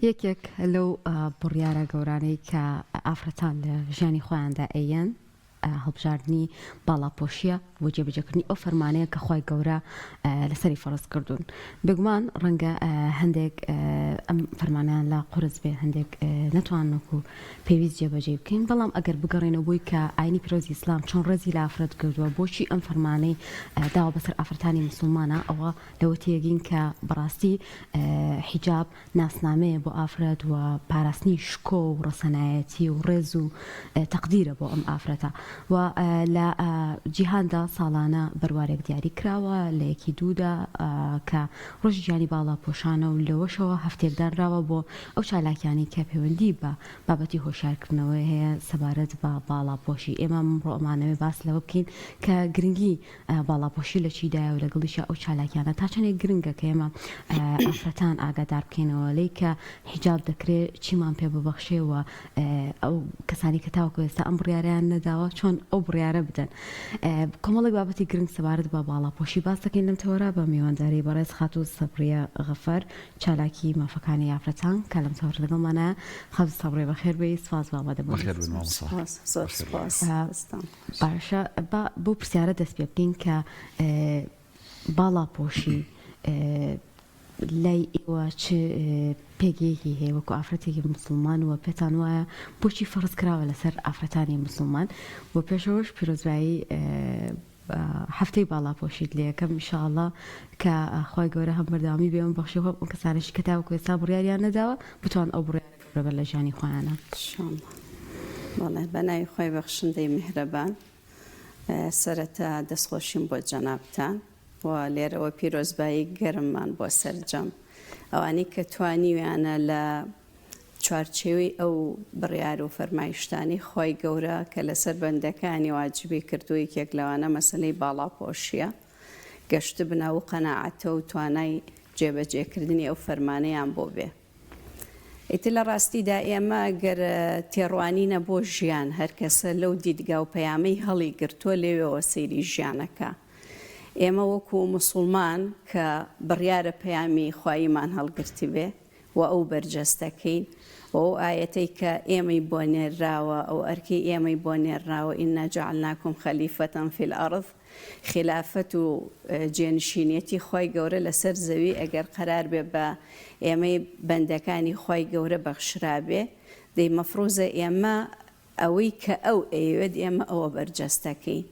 یەکێک لەو بڕیارە گەورانەی کە ئافرەتان لە ژیانی خۆیاندا ئەیەن، هەڵبژاردنی باڵاپۆشییە بۆ جێبەجێکردنی ئەو فەرمانەیە کە خوای گەورە لەسەری فەرز کردوون. بێگومان ڕەنگە هەندێک ئەم فەرمانەیان لا قورس بێ، هەندێک نەتوانن وەکو پێویست جێبەجێی بکەین، بەڵام ئەگەر بگەڕێینەوە بۆی کە ئاینی پیرۆزی ئیسلام چۆن ڕێزی لە ئافرەت گرتووە، بۆچی ئەم فەرمانەی داوە بەسەر ئافرەتانی موسڵمانا، ئەوە ئێوە تێگەین کە بەڕاستی حیجاب ناسنامەیە بۆ ئافرەت و پاراستنی شکۆ و ڕەسەنایەتی و ڕێز و تەقدیرە بۆ ئەم ئافرەتە و لە جیهاندا ساڵانە بەروارێک دیاری کراوە لە یەکی دوودا کە ڕۆژی گیانی باڵا پۆشانە و لەوەشەوە هەفتێک دانراوە بۆ ئەو چالاکیانی کە پەیوەندی بە بابەتی هۆشارکردنەوەی هەیە سەبارەت بە باڵا پۆشی ئێمە ڕۆمانەوەی باس لەوە بکەین کە گرنگی ئایا باڵاپۆشی لە چی دایە و لە گەڵیشیا ئەو چالاکیانە تا چەندێک گرنگە کە ئێمە ئافرەتان ئاگادار بکەینەوە لێی کە حیجاب دەکرێ چیمان پێ ببەخشێ و ئەو کەسانی کە تاوەکو ئێستا ئەم بڕیاریان نەداوە چۆن ئەو بڕیارە بدەن کۆمەڵێک بابەتی گرنگ سەبارەت بە باڵاپۆشی باس دەکەین لەم تەوەرا بە میوانداری بەڕێز خاتوو سەبریە غەفەر چالاکی مافەکانی یافرەتان کە لەم تەوەر لەگەڵمانە خەز سەبرێ بەخێر بێی سپاس بابە دەبخێر بن سپاس سپاس سپاس. باشە با بەو پرسیارە دەست پێ بکەین کە باڵاپۆشی لای ئێوە چ پێگەیەکی هەیە وەکو ئافرەتێکی مسلمان وە پێتان وایە بۆچی فەرز کراوە لەسەر ئافرەتانی مسلمان و پێشەوەش پیرۆزبایی هەفتەی باڵاپۆشیت لەکەم میشاءله کە خی گەورە هەم بەردامی بێم بەخشی خۆ کەسانشی کە تاوەکو ێستا بڕیاریان نەداوە بتوان ئەو بڕیارەکە ڕێبەر لە ژیانی خۆیانە. شاڵڵە بەڵێ بەناوی خوای بەخشندەی میهرەبان سەرەتا دەستخۆشیم بۆ جەنابتان و لێرەوە پیرۆزبایی گەرممان بۆ سەرجەم ئەوانەی کە توانیویانە لە چوارچێوەی ئەو بڕیار و فەرمایشتانەی خوای گەورە کە لەسەر بەندەکانی واجبی کردووە یەکێک لەوانە مەسەلەی باڵاپۆشیە گەشتبنە ئەو قەناعەتە و توانای جێبەجێکردنی ئەو فەرمانەیان بۆ بێ. ئیتر لە ڕاستیدا ئێمە گەر تێڕوانینە بۆ ژیان، هەرکەسە لەو دیدگا و پەیامەی هەڵیگرتووە لێوێوە سەیری ژیانەکا. ئێمە وەکوو موسوڵمان کە بڕیارە پەیامی خواییمان هەڵگرتبێ و ئەو بەرجەستەکەین و ئەو ئایەتەی کە ئێمەی بۆ نێرراوە، ئەو ئەرکەی ئێمەی بۆ نێرراوە، انا جعلناکم خلیفە فی الارض، خیلافەت و جێنشینیەتی خوای گەورە لەسەر زەوی ئەگەر قەراربێ بە ئێمەی بەندەکانی خوای گەورە بەخشرابێ دەی مەفڕوزە ئێمە ئەوەی کە ئەو ئەیەوێت ئێمە ئەوە بەرجەستەکەین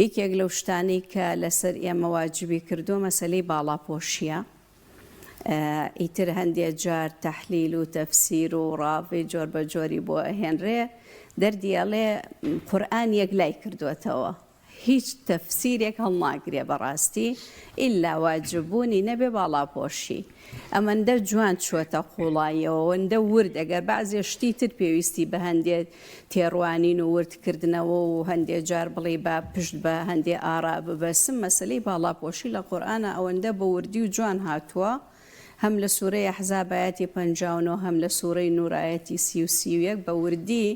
یەکێک لەو شتانەی کە لەسەر ئێمە واجبی کردووە مەسەلەی باڵاپۆشیە ئیتر هەندێ جار تەحلیل و تەفسیر و ڕاڤی جۆر بە جۆری بۆ ئەهێنرێ دەردیەڵێ قورآن یەک لای کردوێتەوە هیچ تەفسیرێک هەڵناگرێ بەڕاستی ئیلا واجب بوونی نەبێ باڵاپۆشی ئەمەندە جوان چووەتە قوڵاییەوە ئەوەندە ورد ئەگەر بەعزێ شتی تر پێویستی بە هەندێ تێڕوانین و ورد کردنەوە و هەندێ جار بڵێی با پشت بە هەندێ ئارا ببەسم مەسەلەی باڵاپۆشی لە قورئانا ئەوەندە بە وردی و جوان هاتووە هەم لە سورەی احزاب ئایەتی پەنجا و نۆ هەم لە سورەی نور ئایەتی سی و سی و یەک بە وردی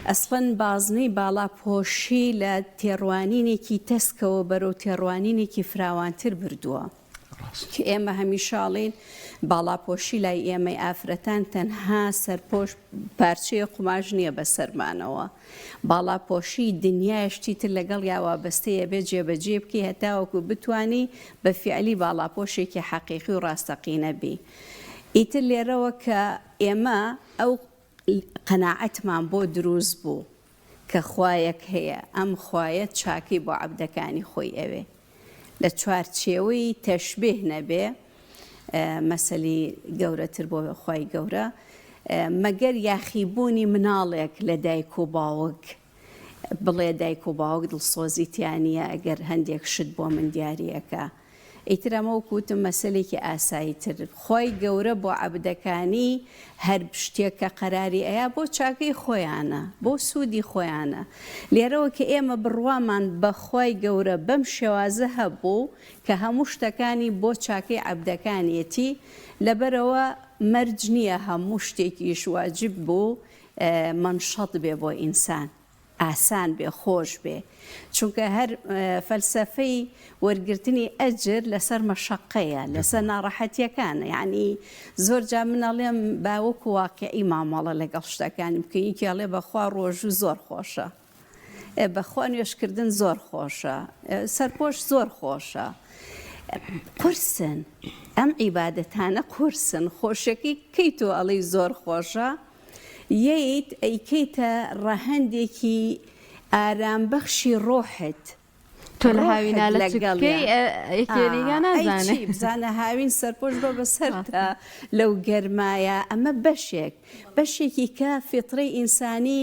ئەسڵەن بازنەی باڵا پۆشی لە تێڕوانینێکی تەسکەوە بەرەو تێڕوانینێکی فراوانتر بردووە ڕاست. ئێمە هەمیشە ئەڵێین باڵاپۆشی لای ئێمەی ئافرەتان تەنها سەرپۆش پارچەیە قوماش نییە بەسەرمانەوە. باڵاپۆشی دنیایە شتی تر لەگەڵیا وابەستەیە بێت جێبەجێی بکەی هەتاوەکو بتوانی بە فیعلی باڵاپۆشێکی حەقیقی و ڕاستەقینە بی ئیتر لێرەوە کە ئێمە ئەو قەناعەتمان بۆ دروست بوو کە خوایەک هەیە ئەم خوایە چاکەی بۆ عەبدەکانی خۆی ئەوێ لە چوارچێوەی تەشبیه نەبێ مەسەلی گەورەتر بۆ خوای گەورە مەگەر یاخی بوونی مناڵێک لە دایک و باوک بڵێ دایک و باوک دڵسۆزی تیانە ئەگەر هەندێک شت بۆ من دیارەکە ئیترەمە و کووتم مەسلێکی ئاسایی تر خی گەورە بۆ عبدەکانی هەر شتێک کە قەراری ئەیا بۆ چاکەی خۆیانە بۆ سوودی خۆیانە لێرەوە کە ئێمە بڕوامان بە خوای گەورە بەم شێوازە هەبوو کە هەموو شتەکانی بۆ چاکەی عەبدەکانیەتی لەبەرەوە مەرج نییە هەموو شتێکیش واجب بوو مەنشەط بێ بۆ ئینسان. ئاسان بێ خۆش بێ چونکە هەر فەلسەفەی وەرگرتنی ئەجر لەسەر مەشەقەیە لەسەر ناڕەحەتیەکانە یعنی زۆر جا من ئەڵێم باوەکو واقعی مامەڵە لەگەڵ شتەکانی بکە یکی ئەڵێ بەخوا ڕۆژوو زۆر خۆشە بەخوا نوێشکردن زۆر خۆشە سەرپۆش زۆر خۆشە قرسن ئەم عیباەتانە قرسن خۆشەکەی کەی تۆ ئەڵی زۆر خۆشە یت ئەیکەیتە ڕەهەندێکی ئارام بەخشی ڕۆحت تۆ لە هاوینا لە چ بکەی بزانە هاوین سەرپۆش بە بەسەرتا لەو گەرمایە ئەمە بەشێک بەشێکی کە فیتڕەی ئینسانی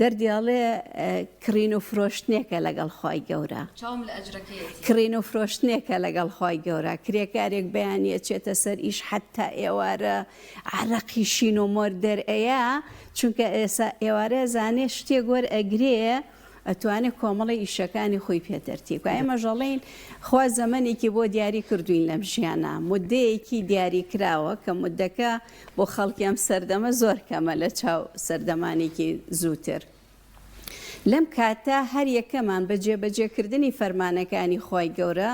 دەردی ئەڵێ کڕین و فرۆشتنێکە لەگەڵ خوای گەورە. چاوم لە ئەجرەکەیەتی. کڕین و فرۆشتنێکە لەگەڵ خوای گەورە، کرێکارێک بەیانی ئەچێتە سەر ئیش حەتتا ئێوارە عەرەقی شین و مۆر دەرئەیا، چونکە ئێسا ئێوارە ئەزانێ شتێک وەرئەگرێ ئەتوانێ کۆمەڵی ئیشەکانی خۆی پێ تەرتیب کا، ئێمەش ئەڵێین خوا زەمەنێکی بۆ دیاری کردووین لەم ژیانە، موددەیەکی دیاری کراوە کە موددەکە، بۆ خەڵکی ئەم سەردەمە زۆر کەمە لە چاو سەردەمانێکی زووتر. لەم کاتە هەر یەکەمان بە جێبەجێکردنی فەرمانەکانی خوای گەورە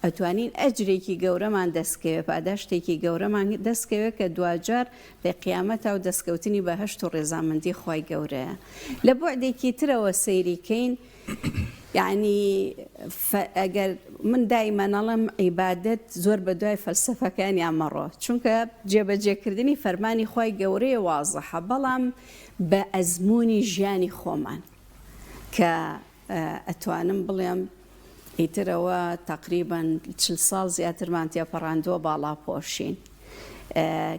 ئەتوانین ئەجرێکی گەورەمان دەستکەوێ، پاداشتێکی گەورەمان دەستکەوێ کە دواجار لە قیامەتا و دەستکەوتنی بەهەشت و ڕێزامەندی خوای گەورەیە. لە بوعدێکی ترەوە سەیری کەین، یەعنی ئەگەر من دایمەن ئەڵێم عیبادەت زۆر بە دوای فەلسەفەکانیا مەڕۆ چونکە جێبەجێکردنی فەرمانی خوای گەورەیە وازەحە بەڵام بە ئەزموونی ژیانی خۆمان کە ئەتوانم بڵێم ئیترەوە تەقریبەن چل ساڵ زیاترمان تێپەڕاندووە باڵاپۆشین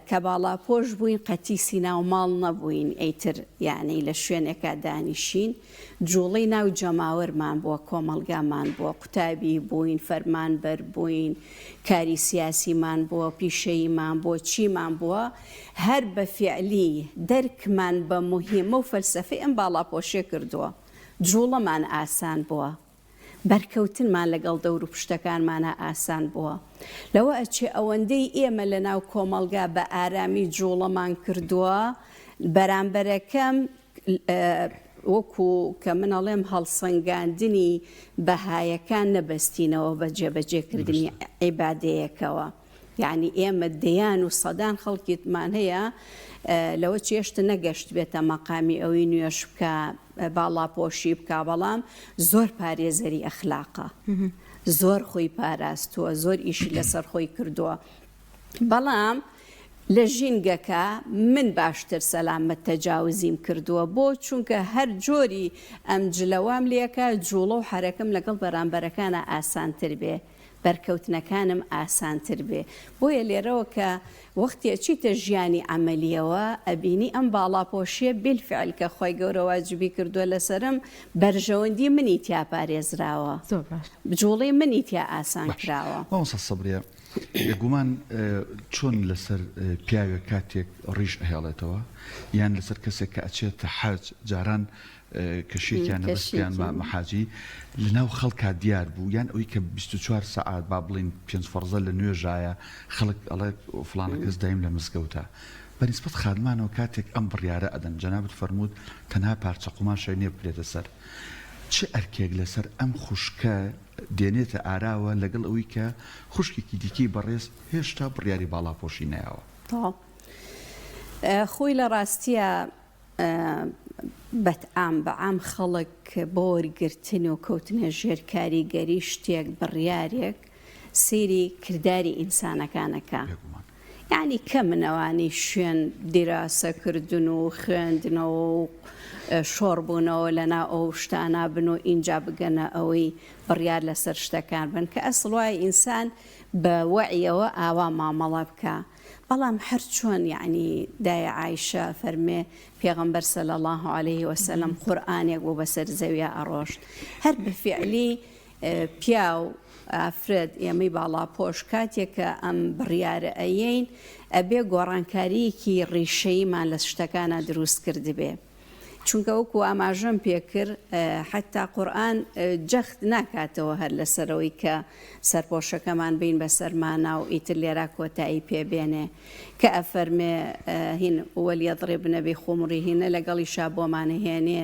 کە باڵاپۆش بووین قەتیسی ناو ماڵ نەبووین ئەیتر یعنی لە شوێنێکا دانیشین جوڵەی ناو جەماوەرمان بووە، کۆمەڵگامان بووە، قوتابی بووین، فەرمانبەر بووین، کاری سیاسیمان بووە، پیشەییمان بووە، چیمان بووە، هەر بە فیعلی دەرکمان بە موهیمە و فەلسەفەی ئەم باڵاپۆشیە کردووە، جوڵەمان ئاسان بووە، بەرکەوتنمان لەگەڵ دەوروپشتەکانمانا ئاسان بووە، لەوە ئەچێ ئەوەندەی ئێمە لەناو کۆمەڵگا بە ئارامی جوڵەمان کردووە، بەرامبەرەکەم وەکو کە من ئەڵێم هەڵسەنگاندنی بەهایەکان نەبەستینەوە بە جێبەجێکردنی عیبادەیەکەوە. یەعنی ئێمە دەیان و سەدان خەڵکیتمان هەیە لەوە چێشت نەگەشتبێتە مەقامی ئەوی نوێژ بکا، باڵاپۆشی بکا، بەڵام زۆر پارێزەری ئەخلاقە. زۆر خۆی پاراستووە، زۆر ئیشی لەسەر خۆی کردووە. بەڵام لە ژینگەکە من باشتر سەلامەت تەجاوزیم کردووە بۆ چونکە هەر جۆری ئەم جلە وام لێکا جوڵە و حەرەکەم لەگەڵ بەرامبەرەکانا ئاسانتر بێ بەرکەوتنەکانم ئاسانتر بێ بۆیە لێرەوە کە وەختی ئەچیتە ژیانی عملیەوە ئەبینی ئەم باڵاپۆشیە بیلفعل کە خۆی گەورە واجبی کردووە لەسرم بەرژەوەندی منی تیا پارێزراوە بجوڵی منی تیا ئاسان کراوە. بێگومان چۆن لەسەر پیاوێک کاتێک ڕیش ئەهێڵێتەوە یان لەسەر کەسێک کە ئەچێتە حەج جاران کەشێکیان نەبستیان مامەحاجی لەناو خەڵکا دیار بوو یان ئەوی کە 24 سعات با بڵین پێنج فەرزە لە نوێژایە خەڵک ئەڵێ فلانە کەس دایم لە مزگەوتە بەنیسبەت خادمانەوە کاتێک ئەم بڕیارە ئەدەن جەنابت فەرمووت تەنها پارچە قوماشای نێبکرێتە سەر چ ئەرکێک لەسەر ئەم خوشکە دێنێتە ئاراوە لەگەڵ ئەوەی کە خوشکێکی دیکەی بەڕێز هێشتا بڕیاری باڵاپۆشی نایەوە. تۆ خۆی لە ڕاستیە بەت ئام بە عام خەڵک بۆ وەرگرتن و کەوتنە ژێر کاریگەری شتێک بڕیارێک سەیری کرداری ئینسانەکانەکە. بێگومان. یانی کەمن ئەوانەی شوێن دیراسە کردن و خوێندنەوە و شۆڕ بوونەوە لەناو ئەو شتانە بن و ئینجا بگەنە ئەوەی بڕیار لەسەر شتەکان بن کە ئەسڵ وایە ئینسان بە وەعیەوە ئاوا مامەڵە بکە بەڵام هەر چۆن یعنی دای عیشە فەرمێ پێغمبەر سەل الله عليه وسلم قورآانێک بۆ بەسەر زەویە ئەڕۆشت هەر بە فعلی پیاو، ئافرەت، ئێمەی باڵاپۆش کاتێک کە ئەم بڕیارە ئەیەین ئەبێ گۆڕانکاریەکی ڕیشەیمان لە شتەکانا دروست کردبێ. چونکە وەکو ئاماژەم پێکرد حتا قورئان جەخت ناکاتەوە هەر لەسەرەوەی کە سەرپۆشەکەمان بین بەسەرمانا و ئیتر لێرا کۆتایی پێبێنێ کە ئەفەرمێ هین وەلیەضربنە بخمرهن لەگەڵیشا بۆمانەهێنێ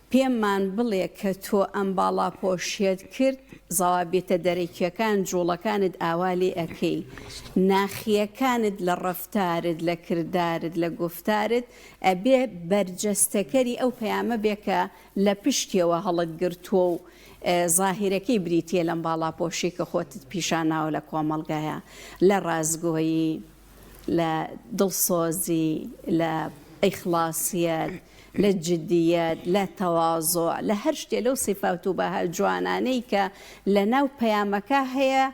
پێمان بڵێ کە تۆ ئەم باڵاپۆشیەت کرد زەوابیتە دەرەکیەکان جوڵەکانت ئاوا لێ ئەکەی ناخیەکانت لە ڕەفتارت لە کردارت لە گوفتارت ئەبێ بەرجەستەکەری ئەو پەیامە بێ کە لە پشتیەوە هەڵت گرتووە و زاهیرەکەی بریتیە لەم باڵاپۆشی کە خۆتت پیشاناوە لە کۆمەڵگایا لە ڕاستگۆیی لە دڵسۆزی، لە ئیخڵاسیەت، لە جدیەت، لە تەوازوع، لە هەر شتێ لەو سیفات و بەها جوانانەی کە لە ناو پەیامەکە هەیە،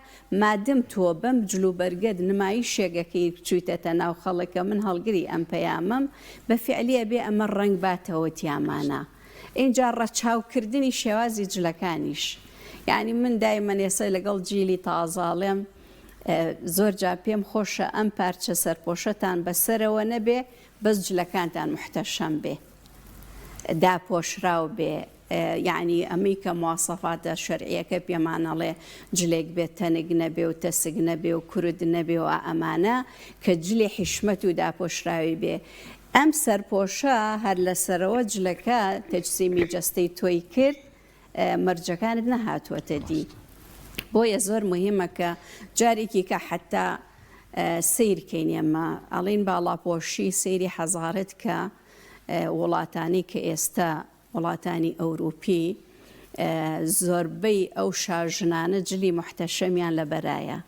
مادم تۆ بەم جل و بەرگەت نمایشێگەکەی چویتەتە ناو خەڵک کە من هەڵگری ئەم پەیامەم، بە فیعلی ئەبێ ئەمە ڕەنگ باتەوە تیامانا. ئینجا ڕەچاو کردنی شێوازی جلەکانیش. یانی من دایمەن ئێسە لەگەڵ جیلی تازە ئەڵێم. زۆر جار پێم خۆشە ئەم پارچە سەرپۆشەتان بەسەرەوە نەبێ بەس جلەکانتان محتەشەم بێ داپۆشراو بێ یعنی ئەمەی کە مواسەفاتە شەرعیەکە پێمانەڵێ جلێک بێت تەنگ نەبێ و تەسک نەبێ و کورد نەبێ و ئەمانە کە جلی حیشمەت و داپۆشراوی بێ ئەم سەرپۆشە هەر لەسەرەوە جلەکە تەجسیمی جەستەی تۆی کرد مەرجەکانت نەهاتووەتە دی بۆیە زۆر مهمە کە جارێکی کە حتا سیر کەین ئێمە ئەڵین باڵاپۆشی سری حەزارت کە وڵاتانی کە ئێستا وڵاتانی ئەوروپی زۆربەی ئەو شاژنانە جلی محتەشەمیان لە بەرایە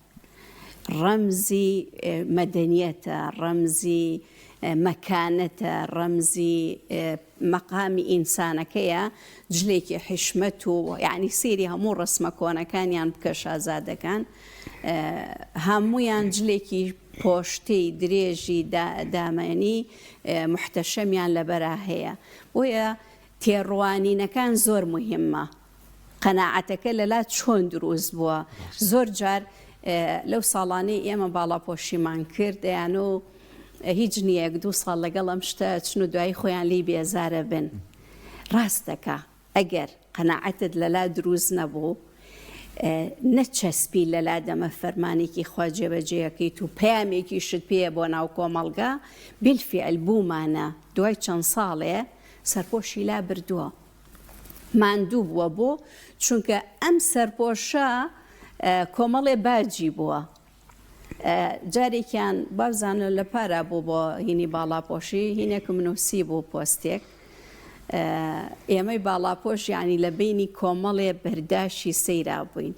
ڕەمزی مەدەنیەتە، ڕەمزی مەکانەتە، ڕەمزی مەقامی ئینسانەکەیە، جلێکی حیشمەت و یانی سەیری هەموو ڕەسمە کۆنەکانیان بکە شازادەکان هەموویان جلێکی پۆشتەی درێژی دامەنی موحتەشەمیان لەبەرا هەیە بۆیە تێڕوانینەکان زۆر موهیمە. قەناعەتەکە لەلا چۆن دروست بووە؟ زۆر جار لەو ساڵانەی ئێمە باڵاپۆشیمان کرد دەیانۆ هیچ نیەک دوو ساڵ لەگەڵ ئەم شتە چن و دوایی خۆیان لی بێزارە بن ڕاستەکە ئەگەر قەناعەتت لەلا دروست نەبوو نەچەسپی لەلا دەمە فەرمانێکی خوا جێبەجێەکەیت و پامێکی شت پێە بۆ ناو کۆمەڵگا بیلفعل بوومانە دوای چەند ساڵێ سەرپۆشی لا بردووە ماندوو بووە بۆ؟ چونکە ئەم سەرپۆشە کۆمەڵێ باجی بووە جارێکیان بارزانە لە پارا بوو بۆ هینی باڵاپۆشی هینێک منوسی بوو پۆستێک ئێمەی باڵاپۆش ینی لە بینی کۆمەڵێ بەرداشی سەیرا بووین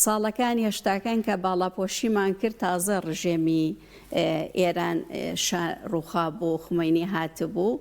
ساڵەکان هێشتاکان کە باڵاپۆشیمان کرد تازە ڕژێمی ئێران ڕووخا بوو خمەینی هاتبوو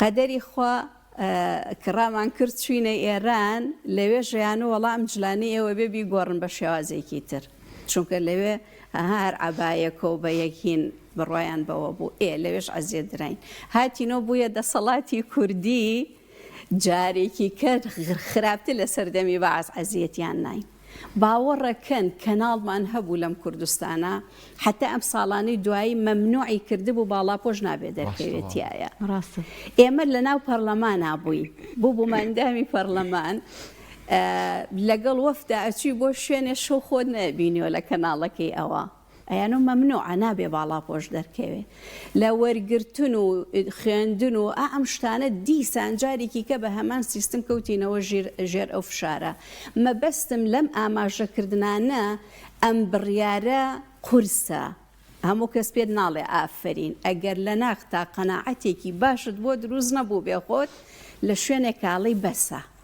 قەدەری خوا کڕامان کرد چوینە ئێران لەوێ ژیان و وەڵا ئەم جلانەی ئێوە بێ بیگۆڕن بە شێوازێکی تر چونکە لەوێ هەر عەبایەکەو بە یەک هین بڕوایان بەوە بوو ئێ لەوێش عەزێت دراین هاتینۆ بویە دەسەڵاتی کوردی جارێکی کەر خراپتر لە سەردەمی بەعس عەزێتیان ناین. باوەڕەکەن کەناڵمان هەبوو لەم کوردستانە حەتا ئەم ساڵانەی دوایی مەمنوعی کردبوو باڵاپۆش نابێ دەرکەوێت تایە ئێمە لە ناو پەرلەمانا بووین بۆ بووماندامی پەرلەمان لەگەڵ وەفدا ئەچوی بۆ شوێنێ شەو خۆت نەبینیەوە لە کەناڵەکەی ئەوە ئەیانۆ مەمنوعە نابێ باڵاپۆش دەرکەوێ لە وەرگرتن و خوێندن و ئا ئەم شتانە دیسان جارێکی کە بە هەمان سیستم کەوتینەوە ژیر ژێر ئەو فشارە مەبەستم لەم ئاماژەکردنانە ئەم بڕیارە قورسە هەموو کەس پێت ناڵێ ئافەرین ئەگەر لە ناختا قەناعەتێکی باشت بۆ دروست نەبوو بێ خۆت لە شوێنێک کاڵی بەسە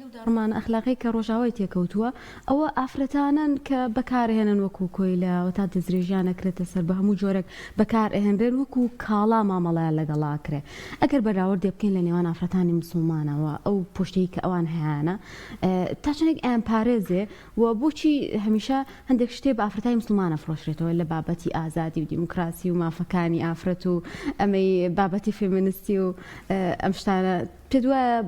لەو داڕمانە ئەخلاقیەی کە ڕۆژاوای تێکەوتووە ئەوە ئافرەتانەن کە بەکارهێنن وەکو کۆیلە وەتا دەستدرێژیان ئەکرێتە سەر بەهەموو جۆرێک بەکار ئەهێنرێن وەکو کاڵا مامەڵەیان لەگەڵا ئەکرێ ئەگەر بەراوردێ بکەین لە نێوان ئافرەتانی موسڵمانەوە ئەو پوشتەی کە ئەوان هەیانە تا چەندێک ئەیانپارێزێ و بۆچی هەمیشە هەندێک شتێ بە ئافرەتانی موسڵمان ئەفرۆشرێتەوە لە بابەتی ئازادی و دیموکراسی و مافەکانی ئافرەت و ئەمەی بابەتی فێمینستی و ئەم شتانە پێت وایە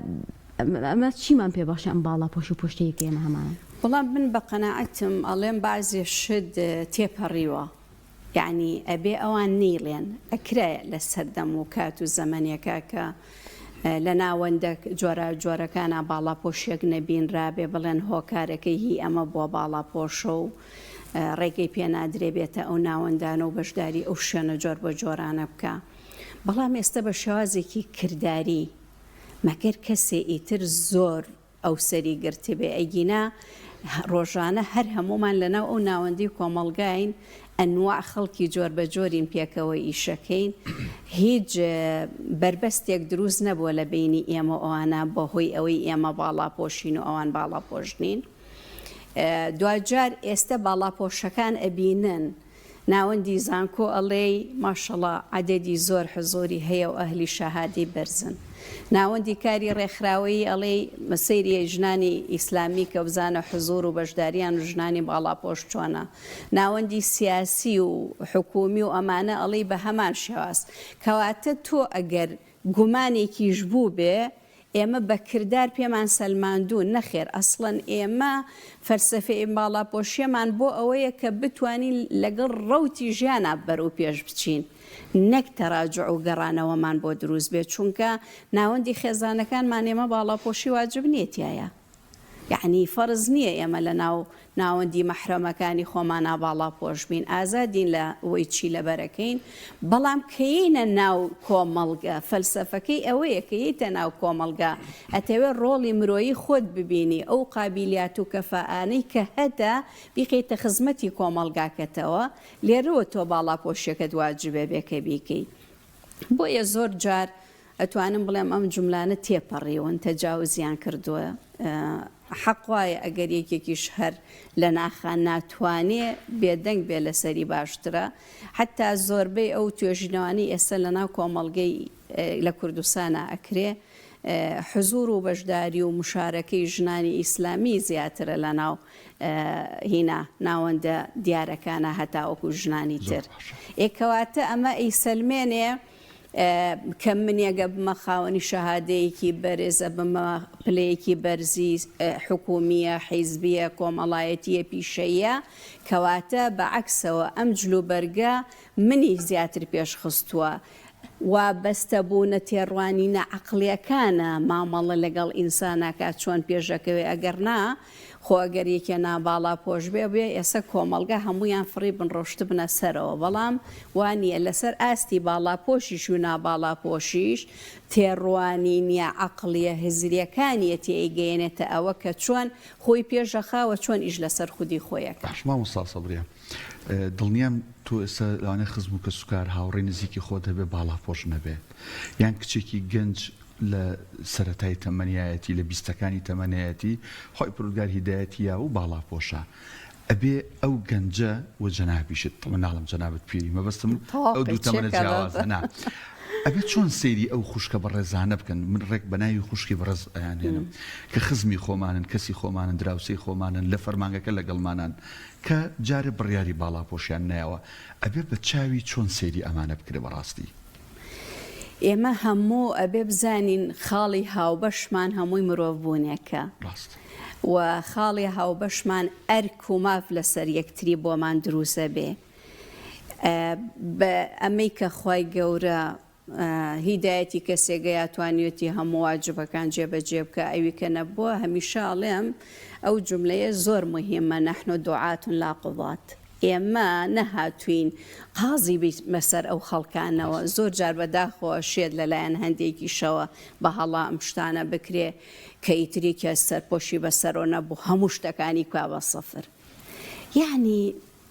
ئەمە چیمان پێ بەخشی ئەم باڵا پۆش و پوشتەی کە ئێمە هەمانە؟ وەڵا من بە قەناعەتم ئەڵێم بەعزێ شت تێپەڕیوە یەعنی ئەبێ ئەوان نەیڵێن ئەکرایە لە سەردەم و کات و زەمەنێکا کە لە ناوەندە جۆرا جۆرەکانا باڵا پۆشێک نەبینرابێ بڵێن هۆکارەکەی هی ئەمە بووە باڵا پۆشە و ڕێگەی پێنادرێ بێتە ئەو ناوەندانە و بەشداری ئەو شوێنە جۆر بە جۆرانە بکە بەڵام ئێستا بە شێوازێکی کرداری مەگەر کەسێ ئیتر زۆر ئەو سەری گرتبێ ئەگینا ڕۆژانە هەر هەموومان لەناو ئەو ناوەندی کۆمەڵگاین ئەنواع خەڵکی جۆر بە جۆرین پێکەوە ئیشەکەین هیچ بەربەستێک دروست نەبووە لە بینی ئێمە ئەوانە بەهۆی ئەوەی ئێمە باڵاپۆشین و ئەوان باڵاپۆشنین دواجار ئێستا باڵاپۆشەکان ئەبینن و ناوەندی زانکۆ ئەڵێی ماشەڵا عەدەدی زۆر حزوری هەیە و ئەهلی شاهادەی بەرزن ناوەندی کاری ڕێکخراوەیی ئەڵێی سەیری ژنانی ئیسلامی کە بزانە حزور و بەشداریان و ژنانی باڵاپۆش چۆنە ناوەندی سیاسی و حکومی و ئەمانە ئەڵێی بەهەمان شێواز کەواتە تۆ ئەگەر گومانێکیش بووبێ ئێمە بە کردار پێمان سەلماندوون، نەخێر ئەسڵەن ئێمە فەلسەفەی باڵاپۆشییەمان بۆ ئەوەیە کە بتوانین لەگەڵ ڕەوتی ژیانا بەرەو پێش بچین، نەک تەراجوع و گەڕانەوەمان بۆ دروست بێت، چونکە ناوەندی خێزانەکانمان ئێمە باڵاپۆشی واجب نییە تیایا. یەعنی فەرز نیە ئێمە لە ناو ناوەندی مەحرەمەکانی خۆمانا باڵا پۆش بین ئازادین لە وەی چی لەبەرەکەین بەڵام کە یەینە ناو کۆمەڵگە فەلسەفەکەی ئەوەیە کە یەیتە ناو کۆمەڵگا ئەتەوێ ڕۆڵی مرۆیی خۆت ببینی ئەو قابیلیات و کەفائانەی کە هەتە بیقەیتە خزمەتی کۆمەڵگاکەتەوە لێرەوە تۆ باڵا پۆشیەکەت واجبە بێ کە بیکەی بۆیە زۆر جار ئەتوانم بڵێم ئەم جوملانە تێپەڕیون تەجاوزیان کردووە حەق وایە ئەگەر یەکێکیش هەر لە ناخا ناتوانێ بێدەنگ بێ لەسەری باشترە حتا زۆربەی ئەو توێژینەوانی ئێستا لە ناو کۆمەڵگەی لە کوردستانە ئەکرێ حزور و بەشداری و مشارەکەی ژنانی ئیسلامی زیاترە لە ناو هینا ناوەندە دیارەکانە هەتاوەکو ژنانی تر ئێکەواتە ئەمە ئەی سەلمێنێ کە من یەگە بمە خاوەنی شەهادەیەکی بەرێز ئەبمە پلەیەکی بەرزی حکومیە حیزبیە کۆمەڵایەتیە پیشەییە کەواتە بە عەکسەوە ئەم جلوبەرگە منی زیاتر پێشخستووە وابەستە بوونە تێڕوانینە عقلیەکانە مامەڵە لەگەڵ ئینساناکە چۆن پێشەکەوێ ئەگەر نا خۆ ئەگەر یەکێ ناباڵا پۆش بێ بێ ئێسە کۆمەڵگا هەموویان فڕی بن ڕۆشتبنە سەرەوە بەڵام وا نیە لەسەر ئاستی باڵا پۆشیش و ناباڵا پۆشیش تێڕوانینیە عەقڵیە هزریەکانیە تێ ئەیگەیەنێتە ئەوە کە چۆن خۆی پێش ئەخا وە چۆن ئیش لەسەر خودی خۆی ئەکا. باش مامۆستا سەبریان دڵنیام تۆ ئێستا لەوانەیە خزم و کەسوکار، هاوڕێی نزیکی خۆت هەبێت باڵاپۆش نەبێت، یان کچێکی گەنج لە سەرەتای تەمەنیایەتی، لە بیستەکانی تەمەنیایەتی، خوای پەروەردگار هیدایەتی یاوە و باڵاپۆشە، ئەبێ ئەو گەنجە و جەنابیشت، تەڵەبەن ناڵێم جەنابت پیری، مەبەستم ئەو دوو تەمەنە جیاوازە نا، ئەبێ چۆن سەیری ئەو خوشکە بەڕێزانە بکەن، من ڕێک بە ناوی خوشکی بەڕێز ئەیانهێنم، کە خزمی خۆمانن، کەسی خۆمانن، دراوسێی خۆمانن، لە فەرمانگەکە لەگەڵمانن، کە جارێ بڕیاری باڵاپۆشیان نایەوە ئەبێ بە چاوی چۆن سەیری ئەمانە بکرێ بەڕاستی. ئێمە هەموو ئەبێ بزانین خاڵی هاوبەشمان هەمووی مرۆڤ بوونێکە ڕاست. و خاڵی هاوبەشمان ئەرک و ماف لەسەر یەکتری بۆمان دروست ئەبێ ئە بە ئەمەی کە خوای گەورە هیدایەتی کەسێگە یا توانیوتی هەموو واجبەکان جێ بە جێ بکا ئەوی کە نەبووە هەمیشە ئەڵێم ئەو جوملەیە زۆر موهیمە نحن دعاة لا قضاة ئێمە نەهاتوین قازی بیتمە سەر ئەو خەڵکانەوە زۆر جار بەداخەوە شێت لەلایەن هەندێکیشەوە بە هەڵا ئەم شتانە بکرێ کە ئیتری کە سەرپۆشی بەسەرۆ نەبوو هەموو شتەکانی کوا بە سەفر یعنی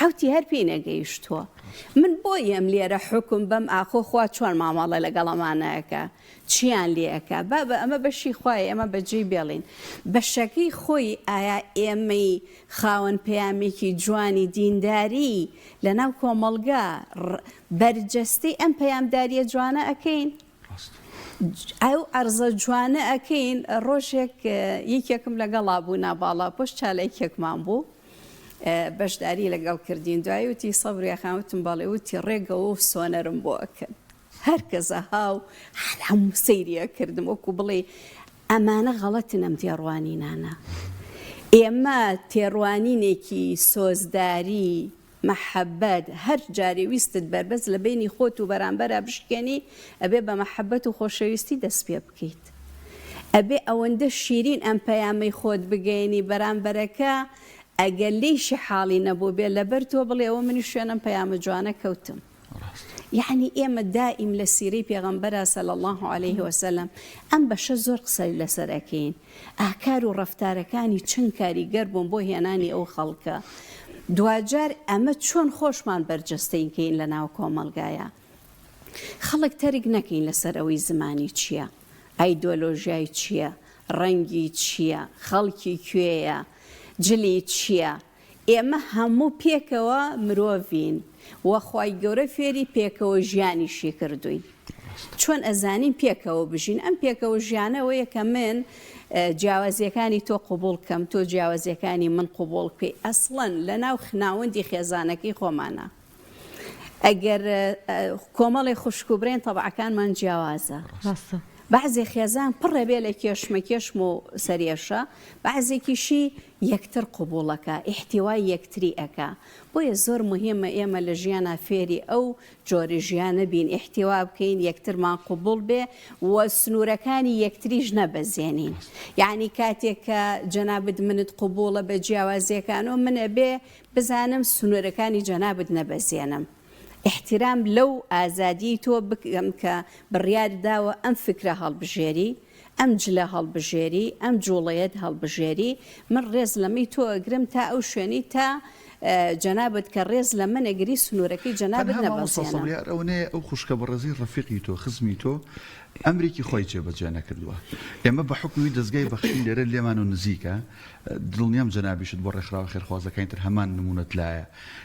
حەوتی هەر پێی نەگەیشتووە من بۆیم لێرە حوکم بەم ئاخۆ خوا چۆن مامەڵە لەگەڵ ئەمانەکە چیان لێ ئەکا بابە ئەمە بەشی خوای ئێمە بەجێی بێڵین بەشەکەی خۆی ئایا ئێمەی خاوەن پەیامێکی جوانی دینداری لەناو کۆمەڵگا بەرجەستەی ئەم پەیامداریە جوانە ئەکەین ئەو عەرزە جوانە ئەکەین ڕۆژێک یەکێکم لەگەڵا بوو ناباڵا پۆش چالاکیەکمان بوو بەشداری لەگەڵ کردین دوایی وتی سەبریا خان وتم بەڵێ وتی ڕێگەوە و سۆنەرم بۆ ئەکەن هەرکەزە هاو حەلام سەیریە کردم وەکو بڵێ ئەمانە غەڵەتنم تێڕوانینانە ئێمە تێڕوانینێکی سۆزداری مەحەبەت، هەر جارێ ویستت بەربەست لە بەینی خۆت و بەرامبەرا بشکێنی ئەبێ بە مەحەبەت و خۆشەویستی دەست پێ بکەیت. ئەبێ ئەوەندە شیرین ئەم پەیامەی خۆت بگەیەنی بەرامبەرەکە ئەگەر لێیشی حاڵی نەبووبێ لەبەر تۆ بڵێ ئەوە منیش شوێن ئەم پەیامە جوانە کەوتم. یەعنی ئێمە دائیم لە سیرەی پێغەمبەرا صلی اللە علیە وسلم ئەم بەشە زۆر قسە لەسەر ئەکەین ئاکار و ڕەفتارەکانی چەند کاریگەر بوون بۆ هێنانی ئەو خەڵکە دواجار ئەمە چۆن خۆشمان بەرجەستەین کەین لە ناو کۆمەلگایە خەڵک تەرک نەکەین لەسەر ئەوەی زمانی چییە ئایدۆلۆژیای چییە ڕەنگی چییە خەڵکی کوێیە جلی چییە؟ ئێمە هەموو پێکەوە مرۆڤین و خوای گەورە فێری پێکەوە ژیانیشی کردووین چۆن ئەزانین پێکەوە بژین ئەم پێکەوە ژیانەوەیە کە من جیاوازیەکانی تۆ قوبول کەم تۆ جیاوازیەکانی من قوبول بکەی ئەسڵەن لە ناو خناوەندی خێزانەکەی خۆمانە ئەگەر کۆمەڵی خوشک و برێن تەبعەکانمان جیاوازە ڕاستە بەعزێ خێزان پڕێ بێ لە کێشمە کێشم و سەرێشە بەعزێکیشی یەکتر قبوڵ ئەکا ئیحتیوای یەکتری ئەکا بۆیە زۆر موهیمە ئێمە لە ژیانا فێری ئەو جۆرە ژیانە بین ئیحتیوا بکەین یەکترمان قبوڵ بێ و سنورەکانی یەکتریش نەبەزێنین یەعنی کاتێک کە جەنابت منت قبوڵە بە جیاوازیەکانەوە من ئەبێ بزانم سنورەکانی جەنابت نەبەزێنم ئیحتیرام لەو ئازادیەی تۆ بکەم کە بڕیارت داوە ئەم فکرە هەڵبژێری ئەم جلە هەڵبژێری، ئەم جوڵەیەت هەڵبژێری، من ڕێز لە مەی تۆ ئەگرم تا ئەو شوێنەی تا جەنابت کە ڕێز لە من ئەگری سنوورەکەی جەنابت نەبەزێنە. تەنها مامۆستا سەڵیار ئەو نەیە ئەو خوشکە بەڕێزەی ڕەفیقی تۆ، خزمی تۆ ئەمریکی خۆی جێ بە جێ نەکردووە. ئێمە بە حوکمی دەزگای بەخشین لێرە لێمان و نزیکە، دڵنیام جەنابیشت بۆ ڕێکخراوە خێرخوازەکانی تر هەمان نموونەت لایە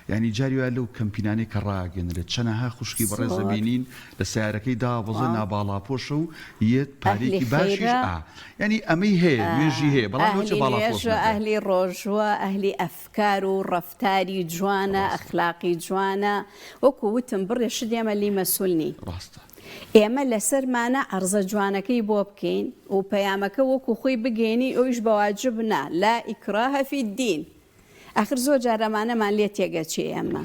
یانی جاری وایە لەو کەمپینانەی کە ڕاگەنرێت چەنەها خوشکی بەڕێز ئەبینین لە سەیارەکەی داوەزێ ناباڵاپۆشە و یەت پارەیەکی باشیش ئا یانی ئەمەی هەیە نوێژی هەیە بەڵام لەوچە باڵاپۆش نەبێت. ئەهلی ڕۆژووە ئەهلی ئەفکار و ڕەفتاری جوانە ئەخلاقی جوانە وەکو وتم بڕێ شت ئێمە لێی مەسول نین ئێمە لەسەرمانە عەرزە جوانەکەی بۆ بکەین و پەیامەکە وەکو خۆی بگەینی ئەویش بەواجب نا لا اکراه فی الدین ئاخر زۆر جار ئەمانەمان لێ تێگەچێ ئێمە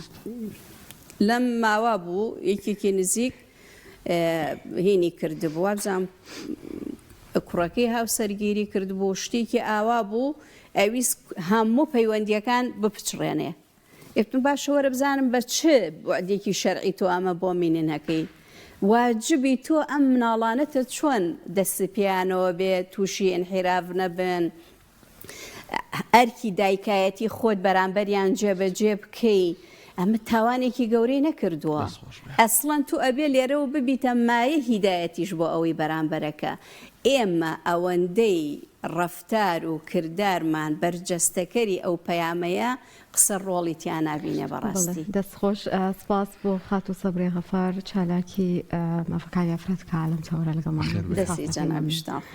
لەم ماوە بوو یەکێکی نزیک هینی کردبوو وابزانم کوڕەکەی هاوسەرگیری کردبوو شتێکی ئاوا بوو ئەویست هەموو پەیوەندیەکان بپچڕێنێ یەکتون باشەوەرە بزانم بە چ بۆدێکی شەرعی تۆ ئەمە بۆ مینینەکەی واجبی تۆ ئەم مناڵانەتە چۆن دەست پیانەوە بێ تووشی ئەنحیراف نەبن ئەرکی دایکایەتی خۆت بەرامبەریان جێبەجێ بکەی ئەمە تاوانێکی گەورەی نەکردووە ئەسڵەن تو ئەبێ لێرەوە ببیتە مایە هیدایەتیش بۆ ئەوەی بەرامبەرەکە ئێمە ئەوەندەی ڕەفتار و کردارمان بەرجەستەکەری ئەو پەیامەیە قسە ڕۆڵی تیا نابینێ بەڕاستی دەست خۆش سپاس بۆ خات و سەبرێ غەفار چالاکی مافەکانی ئەفرەت کە عالم چاوەڕێ لەگەڵمان دەستی جەنابیشتان خۆش